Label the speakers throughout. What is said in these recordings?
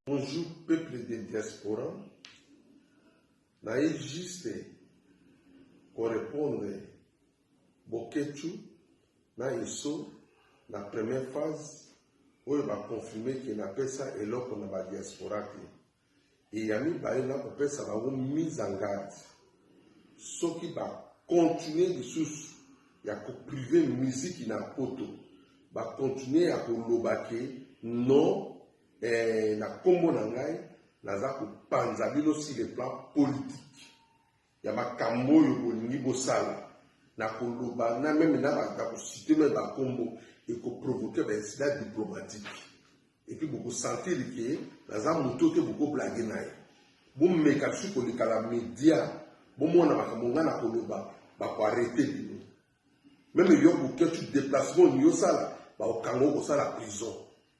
Speaker 1: Bonjour peuple de diaspora, naye juste korepondre Boketshu na Esso na première phase oyo bakonfirme ke napesa eloko na badiaspora te eya mibale na kopesa bango mise en garde soki bakontinue lisusu ya koprive miziki na poto bakontinue ya koloba ke non Eh, na kombo na ngai naza kopanza bino si le plan politique ya makambo oyo bolingi bosala na koloba na meme na bakosite meme bakombo ekoprovoke baincident diplomatique epuis bokosentir ke naza moto te bokoblage na ye bomeka bisu koleka na media bomona makambo ngai na koloba bakoarete bino meme yo koketu deplacement oyo osala bakokanga okosala prison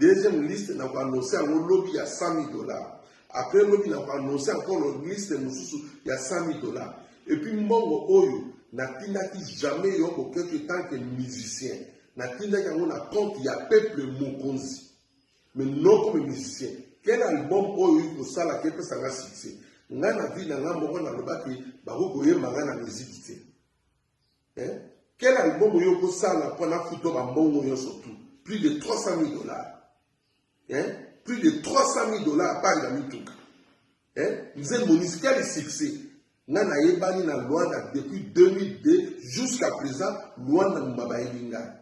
Speaker 1: Deuxième liste na ko annoncer yango lobi ya 100.000 dollars. Après lobi na ko annoncer encore liste mosusu ya 100.000 dollars. Et puis mbongo oyo natindaki jamais yo boketo tant que musicien. Natindaki yango na compte ya peuple mokonzi. Mais non comme musicien. Quel album oyo oyo kosala ke pesa nga succès? Nga na vie na nga moko nalobaki bakoki koyemba nga na musique te. Eh? Quel album oyo okosala mpo na futa bambongo nyonso tu plus de 300 000 dollars eh? plus de 300 000 dollars apari na mituka eh? mzee monisi quel succès nga nayebani na luanda depuis 2002 jusqu'à présent luanda mumba bayebi ngai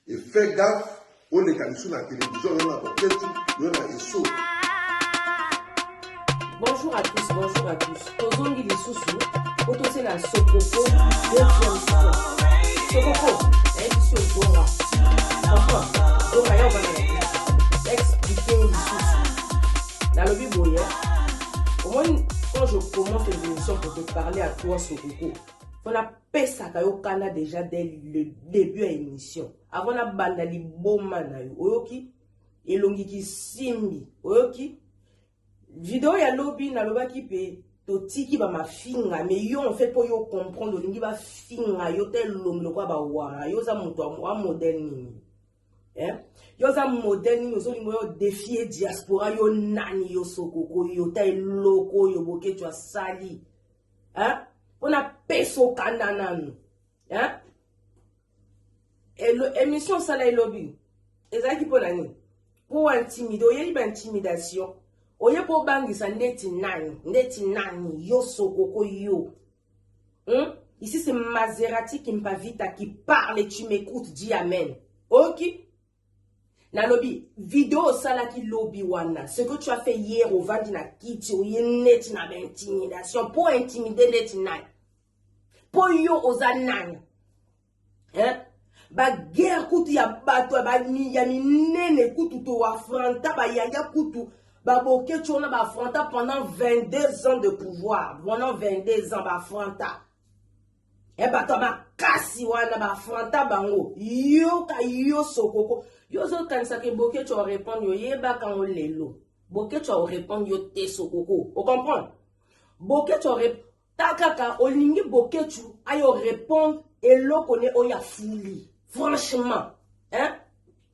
Speaker 1: Et fait gaffe oleka lisusu na television yo na boketi yo na eso
Speaker 2: Bonjour à tous, bonjour à tous. Tozongi lisusu, otose na Sokoko, deuxième fois. Sokoko, eh, biso ebonga. Papa, bonga ya obana na biso. Expliquer yo lisusu. Nalobi boye, omoni, quand je commence une émission pour te parler à toi, Sokoko, on a pesaka yo kanda deja dès le début ya émission avant nabanda liboma na yo oyoki elongi kisimbi oyoki video ya lobi nalobaki mpe totiki bamafinga me yo enfaite mpo yo comprendre olingi bafinga yo te elongi lokola bawara yo oza moto wa modele nini eh? yo oza modele nini ozolinga yo defie diaspora yo nani yo sokoko yo ta eloko oyo boketyo asali hein? mpo na pesa okanda nanu hein? émission osala elobi ezalaki mpo na nini mpo intimide oyebi baintimidation oye mpo obangisa ndeti nani ndeti nani yo sokoko yo hmm? ici c'est maserati kimpavita qui parle tu m'écoute dis amen oki okay? nalobi video osalaki lobi wana ce que tu as fait hier ovandi na kiti oye neti na baintimidation mpo intimide neti nani mpo yo oza nani hein? baguerre kutu ya bato ya minene kutu toafronta bayaya kutu babokeci wana baafronta pendant 22 ans de pouvoir pendant 22 ans baafronta e bato ya makasi wana baafronta bango yoka yo sokoko yo ozokanisaka eboketsho orepondre oyebaka yango lelo boketsho orepondre yo te sokoko ocomprendre boketsho ta kaka olingi boketshu ayo orepondre eloko ne oyo afuli franchement hein?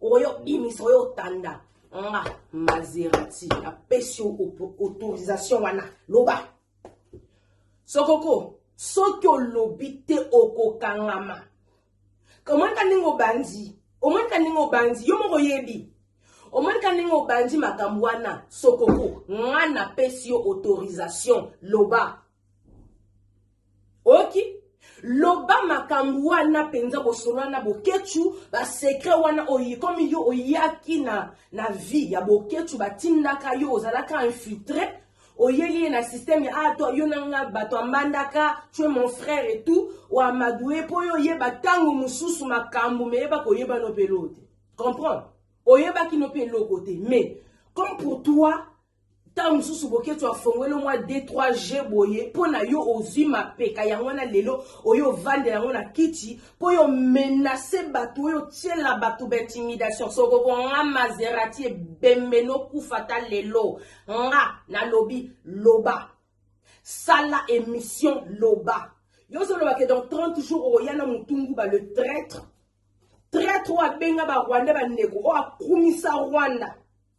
Speaker 2: oyo bimisa oyo otanda nga mazerati apesi autorisation wana loba sokoko soki olobi te okokangama omonika ndenge obandi omonika ndenge obandi yo moko oyebi omonika ndenge obandi makambo wana sokoko nga napesi yo autorisation loba oyoki loba makambo wana mpenza bosolola na boketshu basekre wana oyi komi yo oyaki na, na vie ya boketshu batindaka yo ozalaka infiltre oyeli ye na systeme ya ato ah, yo nanga bato ambandaka tue mon frère et tout oamadoue mpo yo oyeba ntango mosusu makambo meyeba koyeba no mpe eloo te comprendre oyebaki no mpe eloko te mais comme pour toi ntango mosusu boketshu afongweli mwa d3 g boye mpo na yo ozwi mapeka yango wana lelo oyo ovandela yango na kiti mpo oyo menase bato oyo otyela bato baintimidation sokoko nga mazerati ebembe nokufa ta lelo nga nalobi loba sala emission loba yo ozoloba ke dans 30 jours okoya na motunguba le traitre traitre oyo abenga barwandais bandeko oyo akumisa rwanda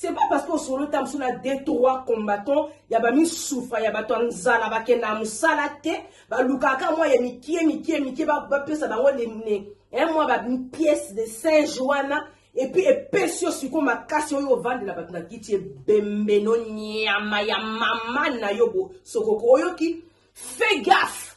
Speaker 2: C'est pas parce que osolo ta musu na deux trois combattants ya ba misufa ya bato ya nzala bakenda musala te balukaka mwa ya mikie mikie mikie bapesa bango lemne eh, mwa ba pièce de singe wana epuis epesi yo sikoyo makasi oyo ovandela bato na kiti ebembeno nyama ya mama na yo bo sokoko oyoki fais gaffe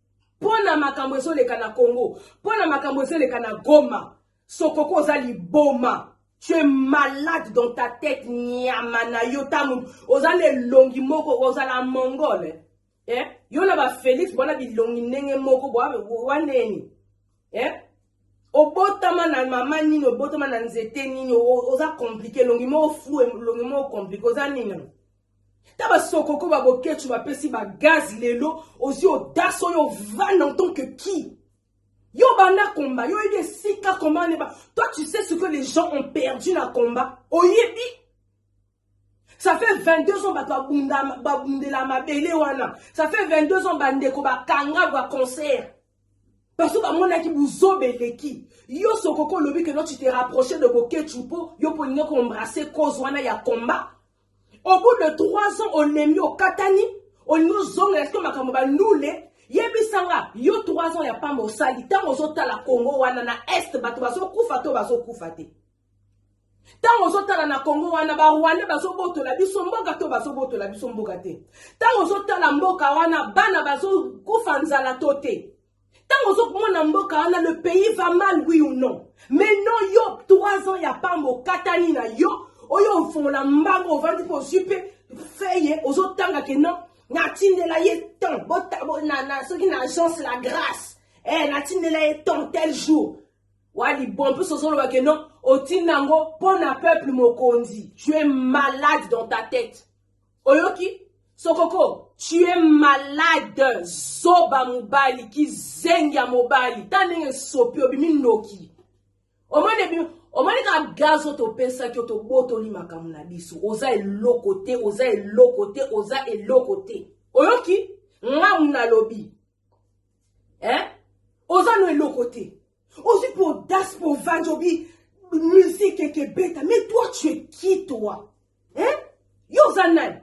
Speaker 2: mpo na makambo ezoleka na congo mpo na makambo ezoleka na goma sokoko oza liboma tu es malade dans ta tête nyama na yo ntango oza na elongi moko ozala mongole eh? yo na bafelix bwana bilongi ndenge moko waneni eh? obotama na mama nini obotama na nzete nini oza komplike elongi moko flu elongi moko komplike oza nini ta basokoko ba boketshu bapesi ba gaz lelo ozwi odasa oyo ovanda en tant que qui yo banda combat yo oyebi esika combat neba toi tu sais ce que les gens ont perdu na combat oyebi ça fait 22 ans bato babundela mabele wana ça fait 22 ans bandeko bakanga ba concert parce que bamonaki buzoba eleki yo sokoko olobi que no tu te rapproche de boketshu mpo yo mpo olingi koembrasse cause wana ya combat au bout de 3 ans olembi okatani olingi ozonga eske makambo balule yebisa nga yo 3 ans ya pamba osali ntango ozotala congo wana na est bato bazokufa to bazokufa te ntango ozotala na congo wana barwande bazobotola biso mboka to bazobotola biso mboka te ntango ozotala mboka wana bana bazokufa nzala to te ntango ozomona mboka wana le pays va mal oui ou non mais non yo 3 ans ya pamba okatani na yo oyo ofongola mbango ovandi mpo ozwi mpe feye ozotanga ke non natindela ye temps soki na agence la grâce eh, natindela ye temps tel jour wali bon mpe sozoloba ke non otinda yango mpo na peuple mokonzi tu es malade dans ta tête oyoki sokoko tu es malade zoba mobali kizengi ya mobali ta ndenge esopi obimi ndoki omoni ebimi omoni kaka gazo topesaki yo tobotoli makambo na biso oza eloko te oza eloko te oza eloko te oyoki ngamu nalobi eh? oza no eloko te Ozwi po audace po ovandi obi musique eke beta mais toi tu es qui toi? Hein? Yo oza nani?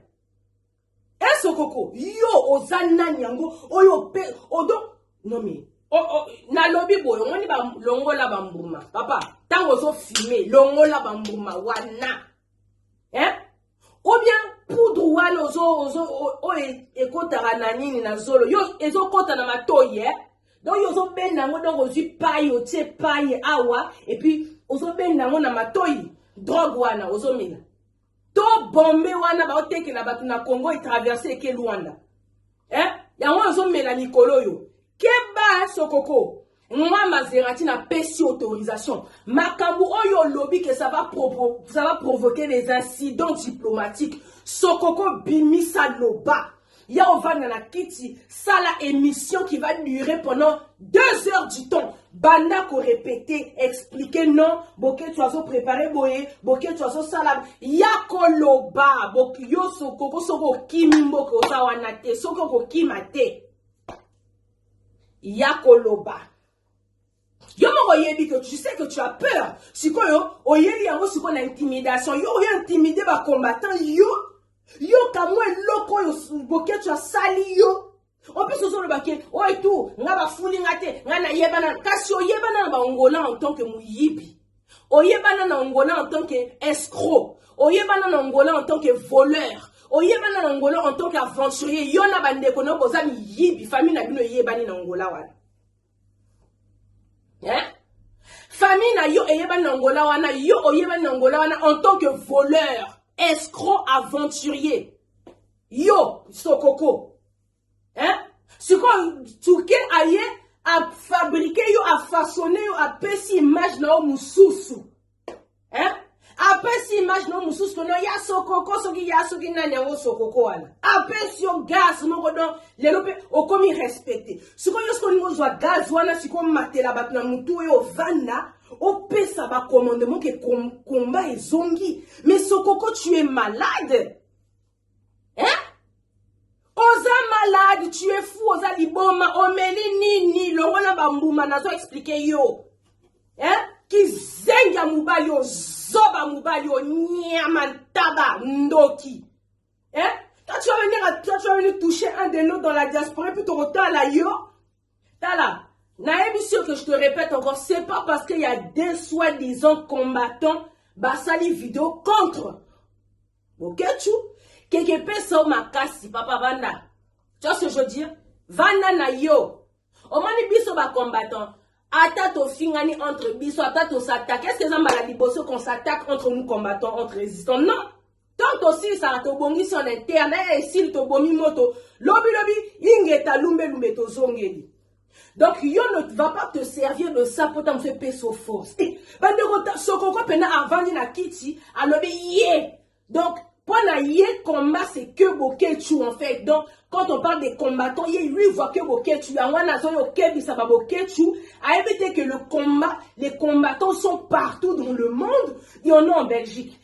Speaker 2: Hein sokoko? Yo oza nani yango oyo pe odo non mais oh, oh, nalobi boye omoni balongola bambuma papa ntango ozofime longola bambuma wana eh? ou bien poudre wana ozo ozo oyo ekotaka na nini na zolo yo ezokota na matoyi eh? donc yo ozobenda yango donc ozwi pai otie pai awa epuis ozobenda yango na matoyi drogue wana ozomela to bombe wana baotekela bato na congo etraverse eke luanda eh? yango ozomela mikolo oyo keba sokoko nga mazerati napesi autorisation makambo oyo olobi ke ça va provoquer des incidents diplomatiques sokoko bimisa loba ya ovanda na kiti sala émission qui va durer pendant deux heures du temps banda ko repete explique non boketsu azo prepare boye boketsu azosala ya koloba yo sokoko soki okimi mboka oza wana te soki okokima te ya koloba yo moko oyebi que tu sais que tu as peur sikoyo oyeli yango sikoyo na intimidation yo oyo intimide bacombattant yo yo kamwa eloko oyo boketsu asali yo opesi ozoloba ke oyo tu nga bafuli nga te nga nayebana kasi oyebana na baongola en tant que moyibi oyebana na ongola en tant que escroc oyebana na ongola en tant que voleur oyebana na ongola en tant que aventurier yo na bandeko na boza miyibi famille na bino eyebani na ongola wana eh? famille na yo eyebani na ongola wana yo oyebani na ongola wana en tant que voleur escroc aventurier yo sokoko hein? sikoyo turke aye afabrike yo afasone yo apesi image na yo mosusu hein? apesi image na yo mosusu kono ya sokoko soki ya soki nani yango sokoko wana apesi yo gaz moko don lelo mpe okomi respecte sikoyo yo soki olingi ozwa gaz wana sikoyo matela bato na motu oyo ovanda opesa bacommandement ke komba ezongi mais sokoko tu es malade eh? oza malade tu es fou oza liboma omeli nini longola bambuma nazo explike yo eh? kizengi ya mobali oyo zoba mobali oyo nyama ntaba ndoki eh? toi tu vas venir à toi tu vas venir toucher un de nous dans la diaspora puis tokotala yo tala nayebi sur que je te répète encore c'est pas parce qu'il y a des soi-disant combattants basali video contre Boketshu, keke pesa o makasi papa vanda. Tu vois ce que je veux dire? Vanda na yo. Omoni biso ba combattants ata tofingani entre biso ata tosatake est ce que eza mbala liboso qu'on s'attaque entre nous combattants entre résistants non tant tosilisaka tobongisi on interne esili tobomi moto lobilobi ingeta lumbelumbe tozongeli donc yo ne va pas te servir de ça mpo ntango so epeso force eh, bandeko sokoko mpena avandi na kiti alobi ye donc mpo na ye combat c'est que boketshu en fait donc quand on parle des combattants ye lui voit que boketshu yango wana azoya okebisa baboketshu ayebi te que le combat les combattants sont partout dans le monde il y en a en belgique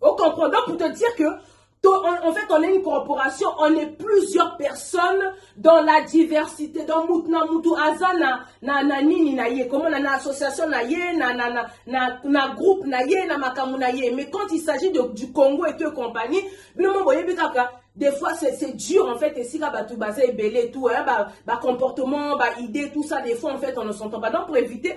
Speaker 2: Au comprend. Donc, pour te dire que en fait, on est une corporation, on est plusieurs personnes dans la diversité, dans Moutna Moutou Azana, na na nini na ye, comment na, na association na ye, na na na na, na groupe na ye, na makamu na ye. Mais quand il s'agit du Congo et tout compagnie, binomo boye bikaka des fois c'est dur en fait esika bato baza ebele tout hein, ba, ba comportement ba idée tout ça des fois en fait on ne s'entend pas donc pour éviter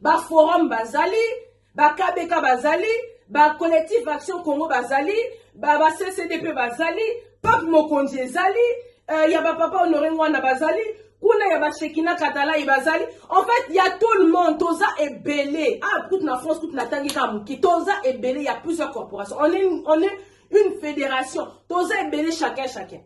Speaker 2: ba forum bazali ba kabeka bazali ba collectif action congo bazali ba, ba ccdp bazali pape mokonzi ezali uh, ya bapapa honore ngwana bazali kuna ya bashekina katalai bazali en fait ya tout le monde toza ebele ah, kutu na france kutu natangi kaka moke toza ebele ya plusieurs corporation on est, on est une fédération toza ebele chacun chacun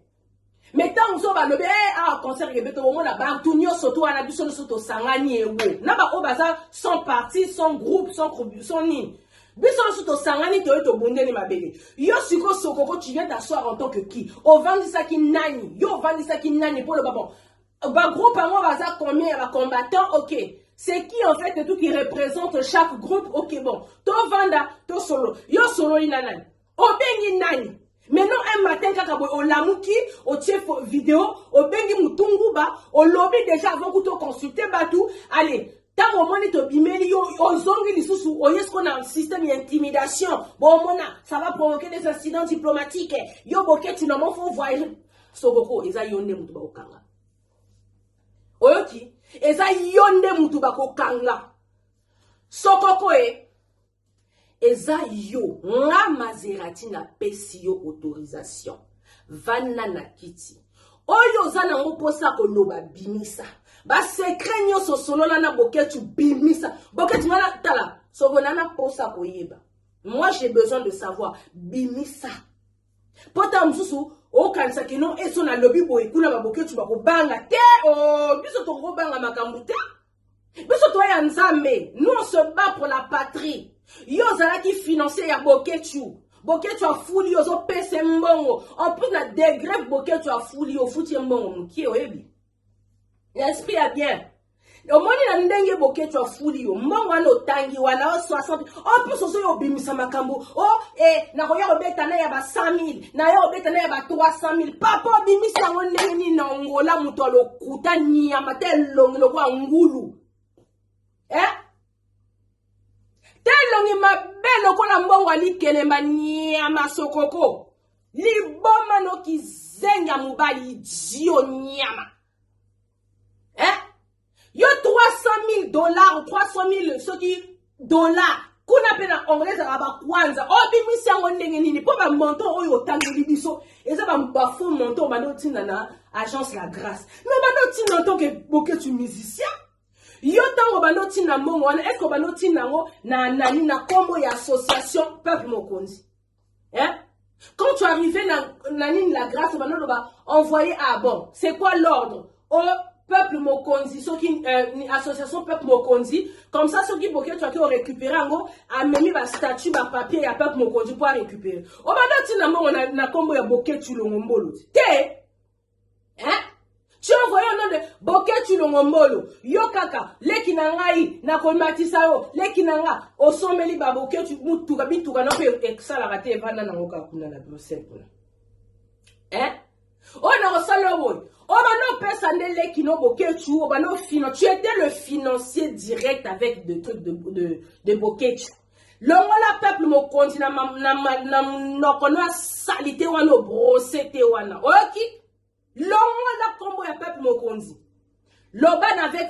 Speaker 2: mais ntango mosusu balobi e eh, awa ah, concert kebe tokomona bantu nyonso to wana biso nyonso tosangani ewo na baoyo baza sans parti sans groupe sans sans nini biso nyonso tosangani toye tobundeli mabele yo siko sokoko tu viens t'asseoir en tant que qui ovandisaki nani yo ovandisaki nani mpo oloba bon bagroupe yango baza combien ya bacombattant ok c'est qui en fait tout qui représente chaque groupe ok bon tovanda tosolo yo osololi na nani obengi nani mais non un matin kaka boye olamuki otie video obengi mutunguba olobi deja avant kuta oconsulte batu ale ntango omoni tobimeli yo ozongi lisusu oye siko na système ya intimidation bomona ça va provoquer des incidents diplomatiques yo boketi na mofo voyage sokoko eza yo nde moto bakokanga oyoki eza yo nde moto bakokanga sokoko e eza yo nga mazerati napesi yo autorisation vanda na kiti oyo oza nango mposa ya koloba bimisa basekret nyonso osolola na boketu bimisa boketu nga natala soko na na mposa ya koyeba moi j'ai besoin de savoir bimisa mpo ntango mosusu okanisa kino eso nalobi boye kuna baboketu bakobanga te o oh, biso tokobanga makambo te biso toye ya nzambe nous on se bat pour la patrie yo ozalaki financier ya boketshu boketshu afuli yo ozopesa mbongo en plus na degre boketshu afuli yo ofuti ye mbongo mokie oyebi na esprit ya bien omoni na ndenge boketshu afuli yo mbongo wana otangi wana o 60 en plus ozoya obimisa makambo o oh, e nakoya kobeta na ya ba 100 000 naye obeta na ya ba 300 000 papa obimisi yango ndenge nini na ongola moto alo kuta nyama te elongi lokola ngulu eh? te elongi mabe lokola mbongo alikelemba nyama sokoko liboma nokizenga mobali idio nyama eh? yo 300 000 dollars 300 000 soki dola kuna mpe na anglais ezalaka bakwanza obimisi oh, yango ndenge nini mpo bamontant oyo otangeli biso eza bafaux montant obanda otinda na agence la grâce me obanda otinda ntoke boketu musicien yo ntango obanda otinda mbongo wana eske obanda otinda yango na nani na nkombo ya association peuple mokonzi hein quand tu arrivé na na nini la grâce bana loba envoyé ah bon c'est quoi l'ordre au oh, peuple mokonzi soki euh, association peuple mokonzi comme ça soki boketwa ke orécupéré yango amemi bastatut bapapier ya peuple mokonzi mpo arécupéré obanda ntina mbongo na nkombo ya boketulongo mbolo te eh? tu as envoyé au nom de boketsu longombolo yo kaka leki na ngai nakomatisa yo leki na nga osombeli ba boketsu mutuka bituka na mpe esalaka te evanda nango kaka kuna na bruxelles kuna eh? oyo oh, nakosala yo boye oyo oh, bana opesa nde leki no boketsu oyo oh, bana ofina tu étais le financier direct avec de truc de, de, de boketsu longola peuple mokonzi na, na, na, na monoko no ya salite wana obrose te wana oyoki longola nkombo ya peuple mokonzi loba na avec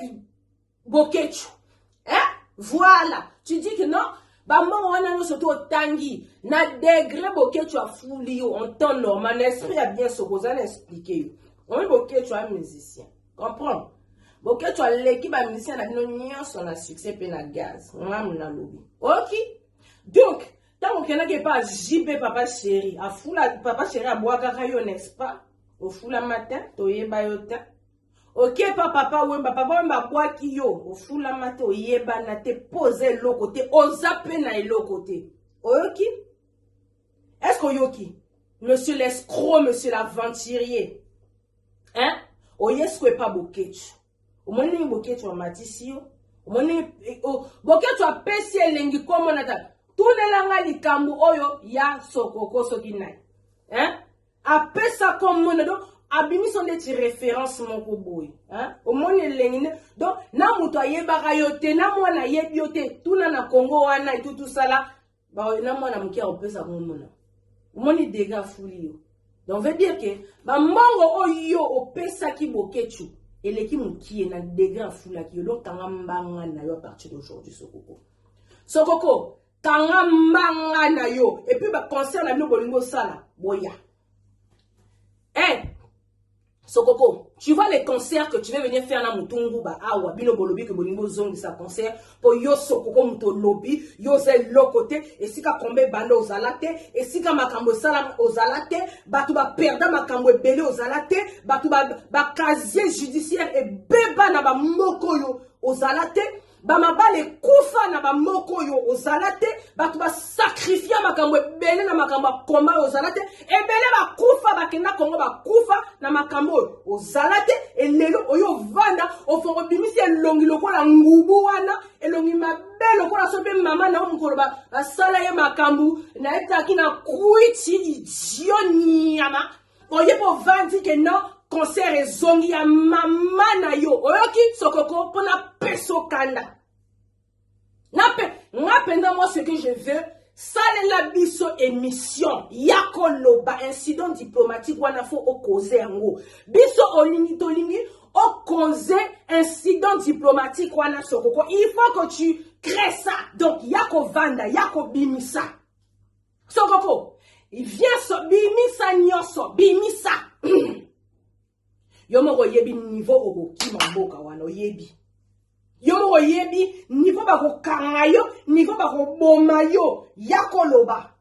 Speaker 2: bokechu eh? voilà tu dis que non bambongo wana nyonso to otangi na degre bokechu afuli yo en temps normal na esprit ya bien soko oza na explike yo omi bokechu a musicien comprendre boketsho aleki bamusicien na bino nyonso na succès mpe na gaz ngamu nalobi oki donc ntango okendaki epa jb papa chéri afula papa chéri abwakaka yo n'est-ce pas ofula matin toyeba yo te oke epa papa wemba papa wemba abwaki yo ofulama te oyebana te mpo oza eloko te oza mpe na eloko te oyoki est ce que oyoki monsieur l'escro monsieur l'aventurier hein oye siko epa boketshu omoni ndenge boketshu amatisi yo omoni eh, oh, boketshu apesi elengi komona ta tunela nga likambo oyo ya sokoko soki nani hein apesa komona donc abimisi yo ndeti référence moko boye omoni elengi nde donc na moto ayebaka yo te na mwana ayebi yo te tuna na congo wana etutusala ba na mwana moke akopesa ngo mona omoni dega afuli yo donc veut dire ke bambongo oyo opesaki boketshu eleki mokie na degre afulaki yo donc kanga mbanga na yo apartir d'aujourd'hui sokoko sokoko kanga mbanga na yo epuis baconcert na bino bolingi osala boya e eh, hey! Sokoko, tu vois les concerts que tu veux venir faire na mutu nguba awa bino bolobi ke bolingi bozongisa concert po yo sokoko mutu olobi yo oza eloko te esika komba ebanda ozala te esika makambo esala ozala te bato baperda makambo ebele ozala te bato bacasier judiciaire ebeba na bamoko oyo ozala te bamabala ekufa na bamoko oyo ozala te bato basakrifia makambo ebele na makambo ya komba oyo ozala te ebele bakufa bakenda kongo bakufa na makambo oyo ozala te elelo oyo ovanda ofongo obimisi elongi lokola ngubu wana elongi mabe lokola so mpe mama na yo mokolo basala ye makambo nayetaki na kwiti idio nyama oye mpo ovandi ke non concert ezongi ya mama na yo oyoki sokoko mpo napesa okanda nape nga mpenza moi ce que je veux salela biso émission ya koloba incident diplomatique wana fo okoze yango biso olingi tolingi okoze incident diplomatique wana sokoko il faut que tu crée ça donc ya kovanda ya kobimisa sokoko vieso bimisa nyonso bimisa yo moko oyebi nivo okokima mboka wana oyebi yo moko oyebi nivo bakokanga yo nivo bakoboma yo ya koloba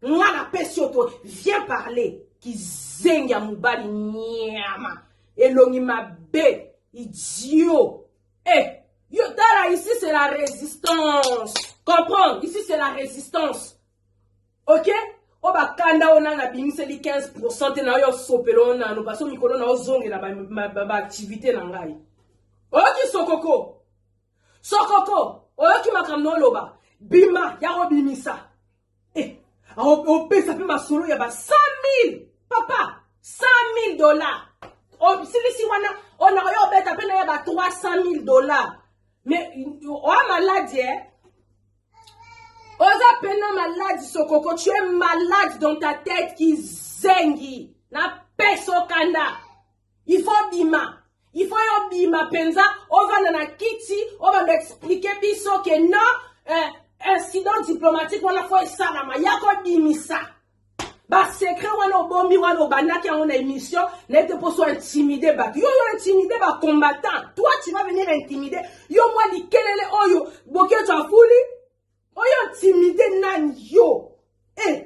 Speaker 2: nga napesi yo to viens parler kizengi ya mobali nyama elongi mabe idiot Eh, yo tala ici c'est la résistance. Comprendre, ici c'est la résistance. OK o bakanda oyo nanga abimiseli 15 pourcent te na oyo osopela oyo nano parce mikolo na ozongela baactivité na ngai oyoki sokoko sokoko oyoki makambo na oloba bima ya kobimisa Eh, opesa mpe masolo ya ba 100000 papa 100000 dollars osilisi oh, wana ona oyo obeta mpe na ya ba 300000 dollars mais oa oh, maladi eh? oza pena maladi sokoko tu es malade dans ta tête kizengi na peso kanda il faut bima il faut yo bima penza ovanda na kiti obanda expliquer biso que non euh, incident diplomatique wana fo esalama ya kobimisa basecret wana obomi wana obandaki yango na émission na ete mposo intimide bato yo yo intimide bacombattant toi tu vas venir intimide yo mwa likelele oyo boketsho afuli Oyo timide nani yo? Eh.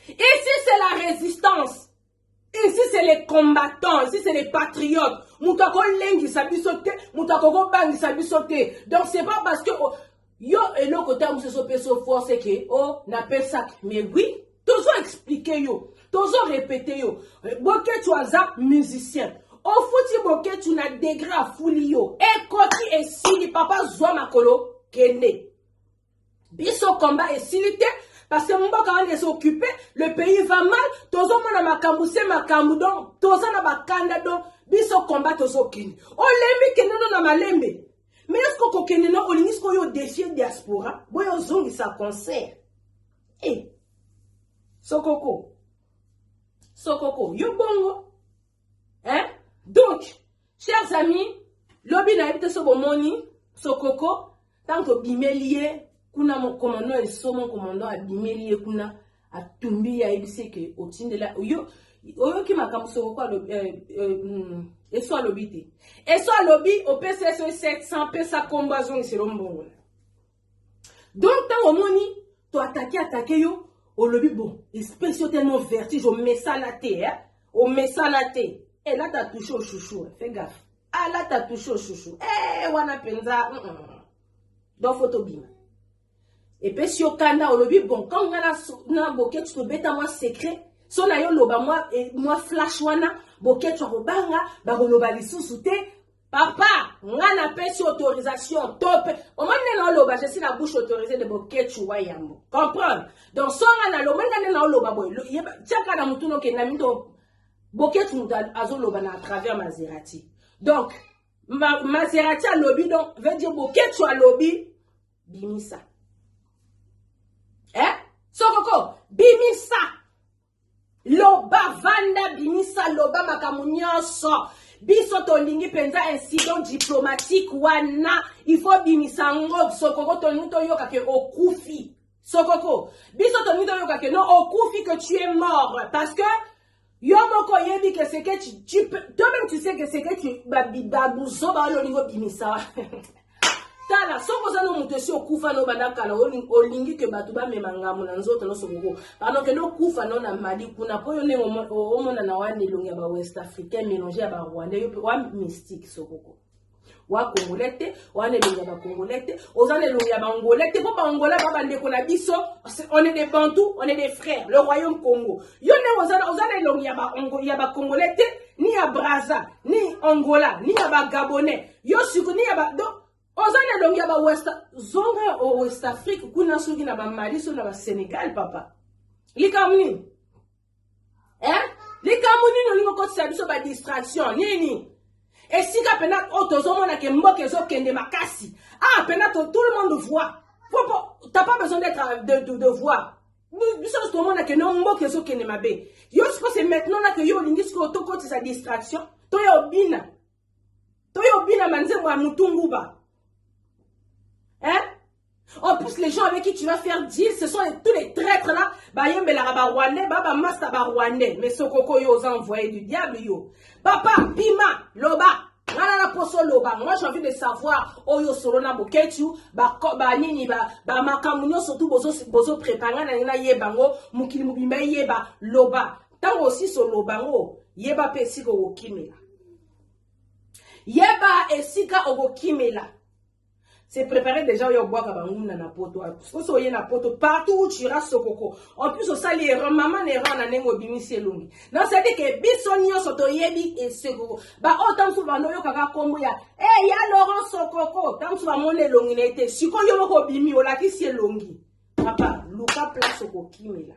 Speaker 2: Ici c'est la résistance. Ici c'est les combattants, ici c'est les patriotes. Moto akolengisa biso te, moto akokobangisa biso te. Donc c'est pas parce que oh, yo eloko ntango mosusu opesa force ke o oh, napesaki mais oui tozo explike yo tozo repete yo boketu aza musicien ofuti boketu na degre afuli yo ekoti esili papa zwa makolo kende biso komba esili te parce que mboka wana eza occupe le pays va mal tozomona makambo se makambo donc toza na bakanda donc biso komba tozokende olembi kende no na malembe mais eske okokende no olingi sikoyo odefie diaspora boyo ozongisa concert Eh, sokoko sokoko yo bongo hein? donc chers amis lobi nayebi te so bomoni sokoko ntango tobimeli ye kuna mokomando ya lisomo komando abimeli ye kuna atumbi ye ayebisi eke otindela yo oyoki makambo sokoko alobi eh, eh, mm, eso alobi te eso alobi opesi ye soki 700 pesa nkombo azongisela ombongola donc ntango omoni to atake atake yo olobi bon espèce yo tellement vertige omesana te eh? omesana te elata eh, touche oshushu eh, fe gafe alata ah, touche oshushu e eh, wana mpenza mm -mm. donc fo tobima epesi yo kanda olobi bon ntango ngai na boketi tobeta mwa secret so na yo loba mwa, eh, mwa flash wana boketi akobanga bakoloba lisusu te Papa, nga na pesi autorisation top. Omoni nde na oloba je suis na bouche autorisée de boketshu wa yambo. Comprendre? Donc so nga na lomoni nga nde na oloba boye. Tiaka na mutu noke na mindo boketshu mutu azoloba na à travers Maserati. Donc ma, Maserati alobi donc veut dire boketshu alobi bimisa. Eh? Sokoko bimisa. loba vanda bimisa loba makambo nyonso biso tolingi mpenza incident diplomatique wana ifo bimisa yango sokoko tolingi toyoka ke okufi sokoko biso tolingi toyoka ke no okufi que tu es mort parce que yo moko oyebi ke seke toi-même tu sais ke seke babuzoba wana olingi obimisa tala soki oza no moto esi okufa no banda kala olingi ke bato bamema ngambo na nzoto nyonso koko pano okende okufa no na mali kuna mpo yo ndenge omonana wana elongi ya bawest africain mélange ya barwandais yo mpe wa mystique sokoko wa congolais te wana elongi ya bacongolais te oza na elongi ya bangolais te mpo bangola ba bandeko na biso on est des bantou on est des frères le royaume congo yo ndenge oza na elongi ya bacongolais te ni ya braza ni angola ni ya bagabonais yo sukuni ya ba donc oza na elongi ya ba west zonga o west afrique kuna soki na ba mali soki na ba senegal papa likambo nini eh likambo nini olingi okotisa biso ba distraction nini esika mpena oyo tozomona ke mboka ezokende makasi ah mpena tout le monde voit t'as pas besoin d'être euh, de, de, de voir biso nyonso tomona ke no mboka ezokende mabe yo sikoyo se maintenant na ke yo olingi sikoyo tokotisa distraction toya obina toyo bina manzembo ya mutu nguba hein En plus, les gens avec qui tu vas faire deal, ce sont les, tous les traîtres là. Bayembelara ba rwandais, baba masta ba rwandais. Mais Sokoko yo aux envoyés du diable yo. Papa, pima, loba. Ngana na poso loba. Moi j'ai envie de savoir oyo solo na bokechu, ba ko ba nini ba ba makamunyo surtout bozo bozo préparer na na yebango, mukili mubimba yeba loba. ntango osisi oloba yango yeba mpe esika okokimela yeba esika okokimela se prépare déjà oyo obwaka banguna na poto soki oye na poto partout où tu iras sokoko en plus osali erreur mama na erreur na ndenge obimisi elongi na osadi ke biso nyonso toyebi esokoko baoyo ntango mosusu banda oyokaka nkombo ya e eh, ya laurent sokoko ntango mosusu bamoni elongi na ye te sikoyo yo moko obimi olakisi elongi papa luka place okokimela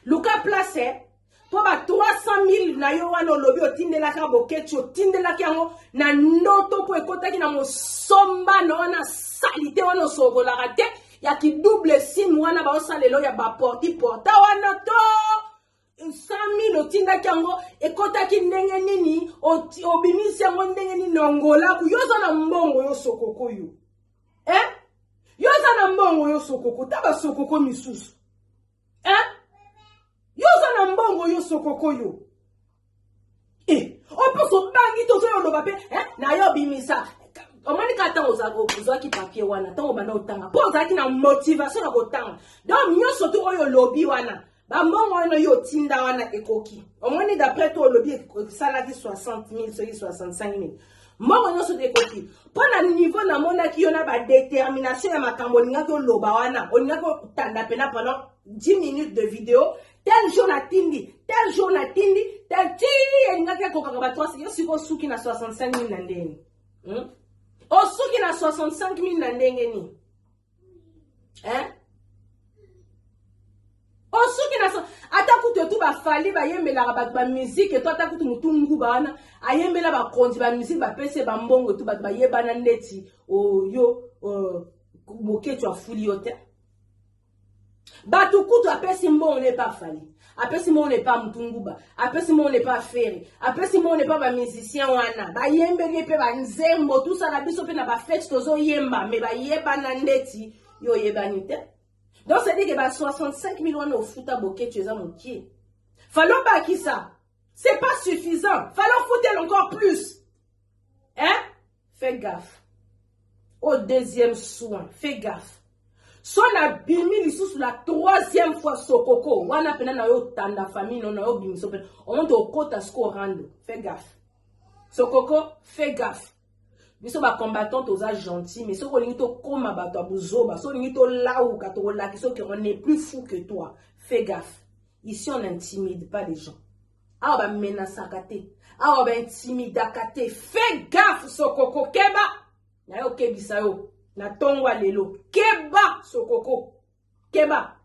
Speaker 2: luka place mpo ba 300 na yo wana olobi otindelaki ya bokeci otindelaki yango na ndoto mpo ekotaki na mosombano wana salite wana osokolaka te ya kidouble sime wana baosalelo ya baporti porta wana to 100000 otindaki yango ekotaki ndenge nini obimisi yango ndenge nini na ngolaku yo oza na mbongo yo sokokoyo eh? yo oza na mbongo yo sokoko ta basokoko misusu eh? yo oza na mbongo yo sokoko yo eh, opesa obangi tozoya oloba mpe eh, na yo obimisa omoni kaka ntango ozwaki papier wana ntango obanda otanga mpo ozalaki na motivation ya kotanga donc nyonso tu oyo olobi wana Ba mbongo wana yo otinda wana ekoki. Omoni d'après toi olobi esalaki 60 000 soki 65 000. Mbongo nyonso te ekoki. Mpo na niveau namonaki yo na ba determination ya makambo olingaki oloba wana, olingaki otanda pena pendant 10 minutes de video tel jour natindi tel jour natindi tel tii elingaki ekokaka bato asi yo sikoyo osuki na 65 000 na ndenge hmm? osuki na 65 000 na ndenge nini eh? osoki na ata kutu etu bafali bayembelaka bato bamizike to ata kutu motu nguba wana ayembela bakonzi bamizike bapesi bambongo etu bato bayebana ndeti oyo oh, oh, boketshu afuli yo te Batu kutu apesi mbongo ne pa Fally. Apesi mbongo ne pa Mutunguba. Apesi mbongo ne pa Ferre. Apesi mbongo ne pa ba musiciens wana. Ba yembeli ye pe ba nzembo tout ça na biso pe na ba fete tozo yemba mais ba yebana ndeti yo yebani te. Donc c'est dire que ba 65 000 wana ofuta boketu eza mokie. Fallait bakisa. C'est pas suffisant. Fallait foutre encore plus. Hein? Fais gaffe. Au deuxième soin, fais gaffe. so nabimi lisusu la troisième fois sokoko wana mpena na yo tanda famille no na yo bimiso mpena omonte okota siko orando fait gaffe sokoko fait gaffe biso bacombattant toza gentil mais soki olingi tokóma bato ya buzoba soki olingi tolauka tokolakisa oke on est plus fou que toi fait gaffe ici on intimide pas les gens awa ba menasaka te awa ba intimidaka te fais gaffe sokoko keba naye okebisa yo na tongo lelo keba sokoko keba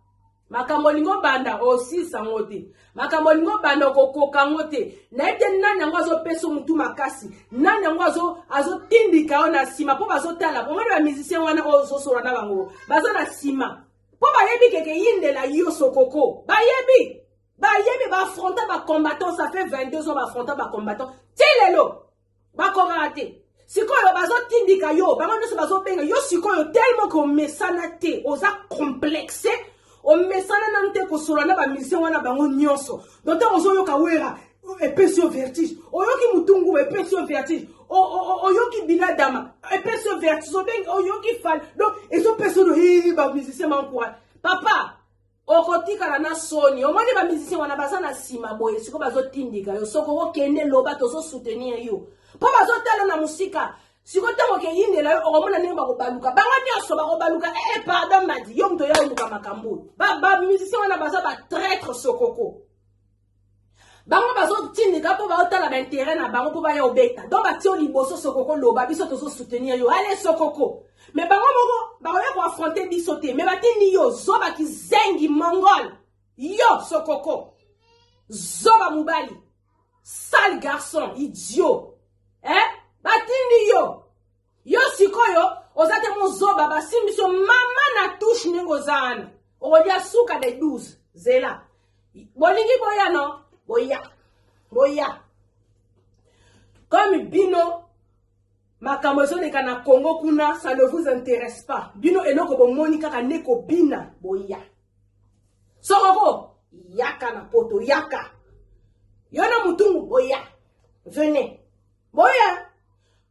Speaker 2: makambo olingi obanda osilisa ngo te makambo olingi obanda okokoka ngo te nayebi te nani yango azopesa motu makasi nani yango azotindika yo na nsima mpo bazotala omoni bamusicien wana oyo ozosola na bango baza na nsima mpo bayebi keke yindela yo sokoko bayebi bayebi baafronta bacombattant ça fait 22 ans baafronta bacombattant ti lelo bakokaka te sikoyo bazotindika yo bango nyonso bazobenga yo sikoyo telema ke omesana te oza complexe omesana nanu te kosolola na bamisien wana bango nyonso don ntango ozoyoka wera epesi yo vertige oyoki motungu epesi yo vertige oyoki bila dama epesi yo vertige oyoki fal donc ezopesa yo bamusicien bankoa papa okotikala na soni omoni ba musicien wana baza na nsima boye siko bazotindika yo soko okokende loba tozosoutenir yo mpo bazotala na mosika siko ntango okeyindela yo okomona ndenge bakobaluka bango nyonso bakobaluka ee eh, eh, pardon madi yo moto oya oluka makambo bamusicien wana baza batraitre sokoko bango bazotindika mpo baotala baintere na bango mpo baya obeta don batio liboso sokoko loba biso tozosoutenir yo ale sokoko me bango moko bakoya koafronte biso te me batindi yo zoba kizengi mongol yo sokoko zoba mobali sale garçon idiot eh? batindi yo yo sikoyo oza te mozoba basimbi so mama na touche ndenge oza wana okolia suka de 12 zela bolingi boya no boya boya comme bino makambo ezoleka na congo kuna ça ne vous intéresse pas bino eloko bomoni kaka nde kobina boya sokoko yaka na poto yaka yo na motungu boya venez boya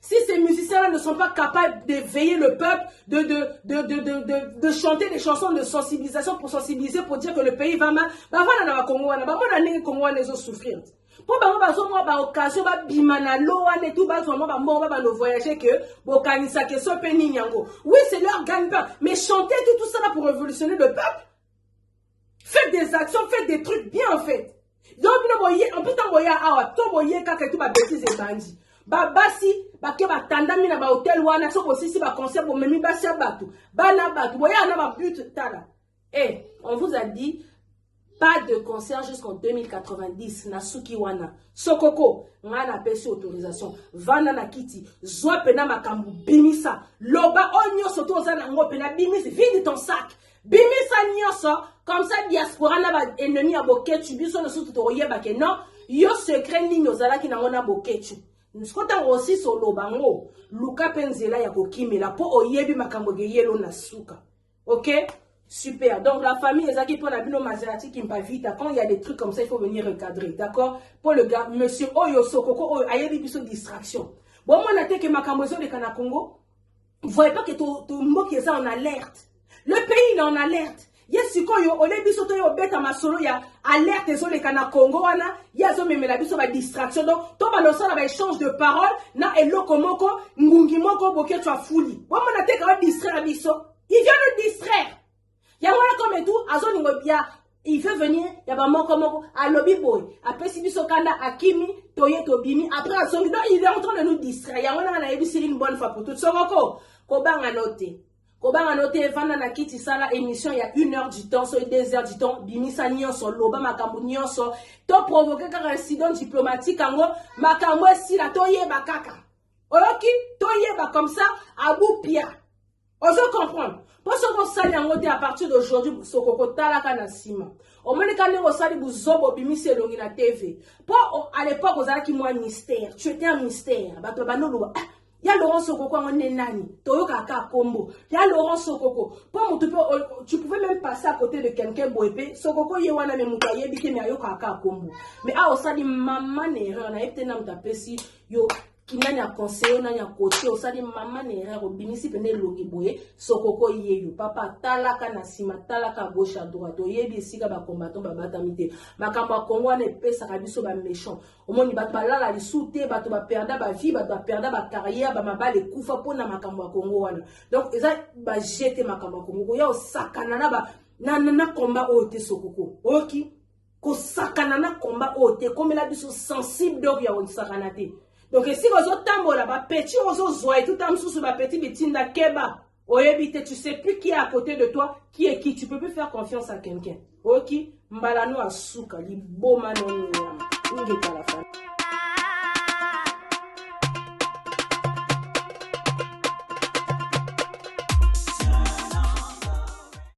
Speaker 2: Si ces musiciens-là ne sont pas capables de veiller le peuple, de, de, de, de, de, de, de chanter des chansons de sensibilisation pour sensibiliser, pour dire que le pays va mal, bah voilà, na Congo, wana, bah mona ndenge Congo wana ezo souffrir. Po bango bazomwa ba occasion ba bima na lo wana et tout bazwa mwa ba mbongo ba bando voyager que bokanisa que so pe nini yango. Oui, c'est leur gagne-pain, mais chanter tout tout ça là pour révolutionner le peuple. Faites des actions, faites des trucs bien en fait. Donc bino boye en plus tant boye awa to boye kaka et tout ba bêtises ebandi. Ba basi bake batandami na ba hotel wana so bosisi ba concert bomemi basi ya bato bana bato boye na ba but tala. Eh, on vous a dit pas de concert jusqu'en 2090 na suki wana sokoko ngai napesi autorisation vanda na kiti zwa mpena makambo bimisa loba oyo nyonso to oza na yango mpena bimisi vide ton sac bimisa nyonso comme ça diaspora na baennemi ya boketshu biso nosutu tokoyeba ke non yo secret nini ozalaki nango na boketshu siko ntango osisi oloba ngo luka mpe nzela ya kokimela mpo oyebi makambo ekeyelo na suka ok Super. Donc la famille Ezaki pour la Bino Maserati Kimpa Vita. Quand il y a des trucs comme ça, il faut venir recadrer. D'accord Pour le gars, monsieur Oyo Sokoko Oyo, ayebi biso distraction. Bon, moi, na teke makambo ezoleka na Congo. voyez pas que to, to mboki eza en alerte le pays il est en alerte ye sikoyo ole biso toye obeta masolo ya alerte ezoleka na congo wana ye azomemela biso badistraction donc to balosala baéchange de parole na eloko moko ngungi moko boketswa fuli bomona te kawa distraire biso il vient nous distraire yango wana comme etu azolingo ya il veut venir ya bamoko moko alobi boye apesi biso kanda akimi toye tobimi après azongi donc il est en train de nous distraire yango nanga nayebisi une bonne fois pour toute sokoko kobanga no te kobanga no te evanda na kiti sala émission ya une heure du temps soki deux heures du temps bimisa nyonso loba makambo nyonso to provoke kaka incident diplomatique yango makambo esila toyeba kaka oyoki toyeba comme ça abupia ozo comprendre mpo soki osali yango te à partir d'aujourd'hui soko kotalaka na nsima omoni ka ndenge osali buzoba obimisi elongi na tv mpo à l'époque ozalaki mwa mystère tu étais un mystère bato babandi oloba ah, ya laurent sokoko yango nde nani toyokaka kaka nkombo ya laurent sokoko mpo motu mpe tu pouvais même passer à côté de quelqu'un boye mpe sokoko ye wana me moto ayebi te me ayokaka kaka nkombo mais awa osali maman erreur nayebi te na moto apesi yo kinani ya conseiller nani ya cote osali mama na erreur obimisi pene elongi boye sokoko yeyo papa talaka na nsima talaka à gauche à droite oyebi esika bacombattant babatami te makambo ya kongo wana epesaka biso baméchant omoni bato balala lisu te bato baperda bavie bato baperda bacarrière bamabala ekufa mpo na makambo ya kongo wana donc eza bajete makambo ya kongo koya osakana na ba na, na, na combat oyo te sokoko oyoki kosakana na komba oyo te ekomela biso sensible donc ya kosakana te donc esika ozotambola bapeti oyo ozozwa etuta mosusu bapeti bitinda keba oyebi te tu sais plus qui est à côté de toi qui est qui tu peux plus faire confiance à quelqu'un oki mbala no asuka liboma noniyama ingekala fa